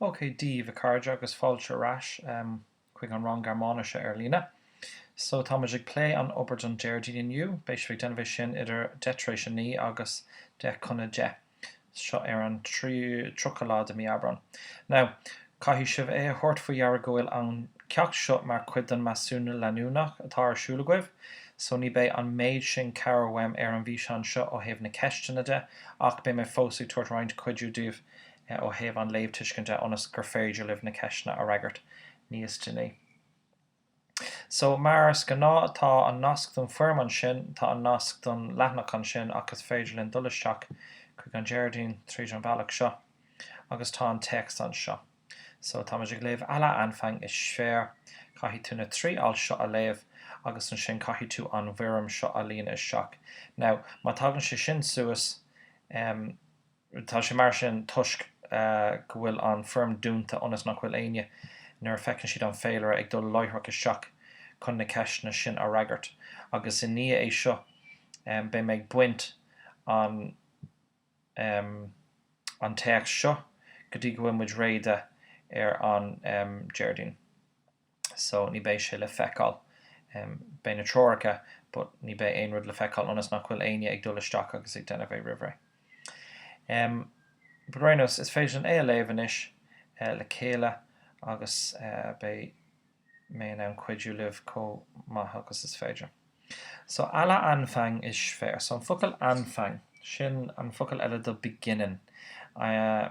OK díbh a chairde agus fáilte ar ais chuig an rang Gearmáinise ar líne. So tá muid ag plé an obair don Déardaoin inniu, beidh sibh ag déanamh é sin idir deich tar éis a naoi agus deich chun a deich. Seo ar an tríocha lá de mí Aibreán. Now, Caithfidh sibh é a thabhairt faoi deara go bhfuil an ceacht seo mar chuid den measúnú leanúnach atá ar siúl agaibh, so ní beidh an méid sin cabhair uaim ar an bhfíseán seo ó thaobh na ceisteanna de, ach beidh mé fós ag tabhairt roinnt cuidiú daoibh ó thaobh an léamhthuiscint de ionas gur féidir libh na ceisteanna a fhreagairt níos déanaí. So, mar is gnáth, tá an nasc don foirm ansin, tá an nasc don leathanach ansin ach is féidir linn dul isteach chuig an Déardaoin tríd an bhealach seo agus tá an téacs anseo. So, táimid ag léamh Aller Anfang ist schwer, caithfidh tú na trí alt seo a léamh agus ansin caithfidh tú an bhfoirm seo a líonadh isteach. Now, má tagann sé sin suas, em, Tá sé mar sin toisc go bhfuil an foirm dúnta ionas nach bhfuil éinne, nuair a feiceann siad an féilire, ag dul láithreach isteach chun na ceisteanna sin a fhreagairt. Agus i ndiaidh é seo beidh mé ag baint an an téacs seo go dtí go bhfuil muid réidh de ar an Déardaoin. so ní beidh sé le feiceáil. Beidh na treoracha but ní beidh aon rud le feiceáil ionas nach bhfuil éinne ag dul isteach agus ag déanamh é roimhré. Em, but ar aon nós, is féidir linn é a léamh anois le chéile agus beidh mé in ann cuidiú libh chomh maith agus is féidir. So aller Anfang ist schwer. So an focal Anfang, sin an focal eile do beginning. I,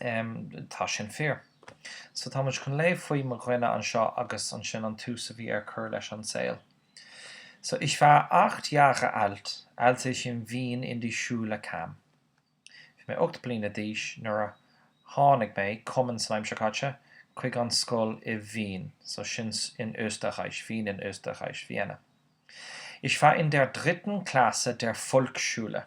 Tá sin fíor. So tá muid chun léamh faoi mo dhuine anseo agus ansin an tús a bhí ar cur leis an saol. So ich war acht Jahre alt, als ich in Wien in die Schule kam. Bhí mé ocht bliana d'aois nuair a tháinig mé, kommen san aimsir caite, chuig an scoil i Wien, so sin in Österreich, Wien in Österreich, Vienna. Ich war in der dritten Klasse der Volksschule.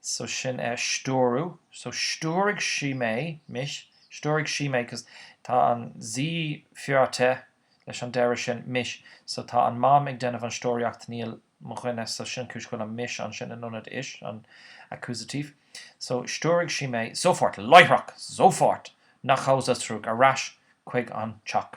so sin é stiúradh, so stiúraigh sí mé, mich, stiúraigh sí mé, cos tá an sie führte leis an deireadh sin, mich, so tá an mam ag déanamh an stiúraíocht níl mo dhuine so sin cúis go bhfuil an mich ansin in ionad ich, an accusative, so stiúraigh sí mé, sofort, láithreach, sofort, nach Hause, zurück, ar ais chuig an teach,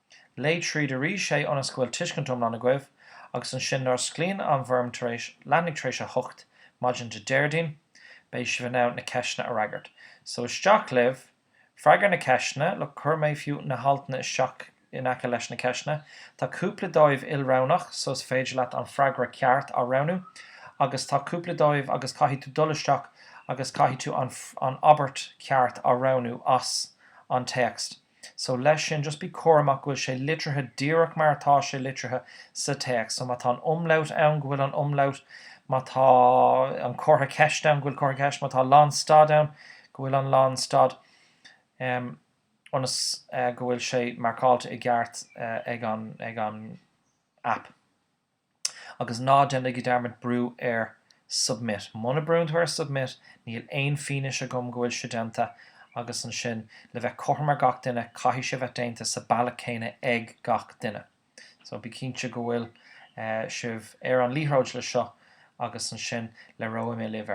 Léigh tríd arís é ionas go bhfuil tuiscint iomlán agaibh agus ansin nuair a osclaíonn an fhoirm tar éis leathuair tar éis a hocht maidin Dé Déardaoin beidh sibh in ann na ceisteanna a fhreagairt. So isteach libh, freagair na ceisteanna, look chuir mé fiú na haltanna isteach in aice leis na ceisteanna, tá cúpla díobh ilroghnach so is féidir leat an freagra ceart a roghnú agus tá cúpla díobh agus caithfidh tú dul isteach agus caithfidh tú an an abairt cheart a roghnú as an téacs. So leis sin, just bí cúramach go bhfuil sé litrithe díreach mar atá sé litrithe sa téacs. So má tá an umlaut ann, go bhfuil an umlaut, má tá an comhartha ceiste ann, go bhfuil comhartha ceiste, má tá lánstad ann, go bhfuil an lánstad, em, ionas, eh, go bhfuil sé marcáilte i gceart, eh, ag an, ag an app. Agus ná déanaigí dearmad brú ar submit. Muna brúann tú ar submit níl aon fianaise agam go bhfuil sé déanta agus ansin le bheith cothrom ar gach duine caithfidh sé bheith déanta sa bealach céanna ag gach duine. So bí cinnte go bhfuil sibh ar an liathróid le seo agus ansin labhróidh mé libh ar.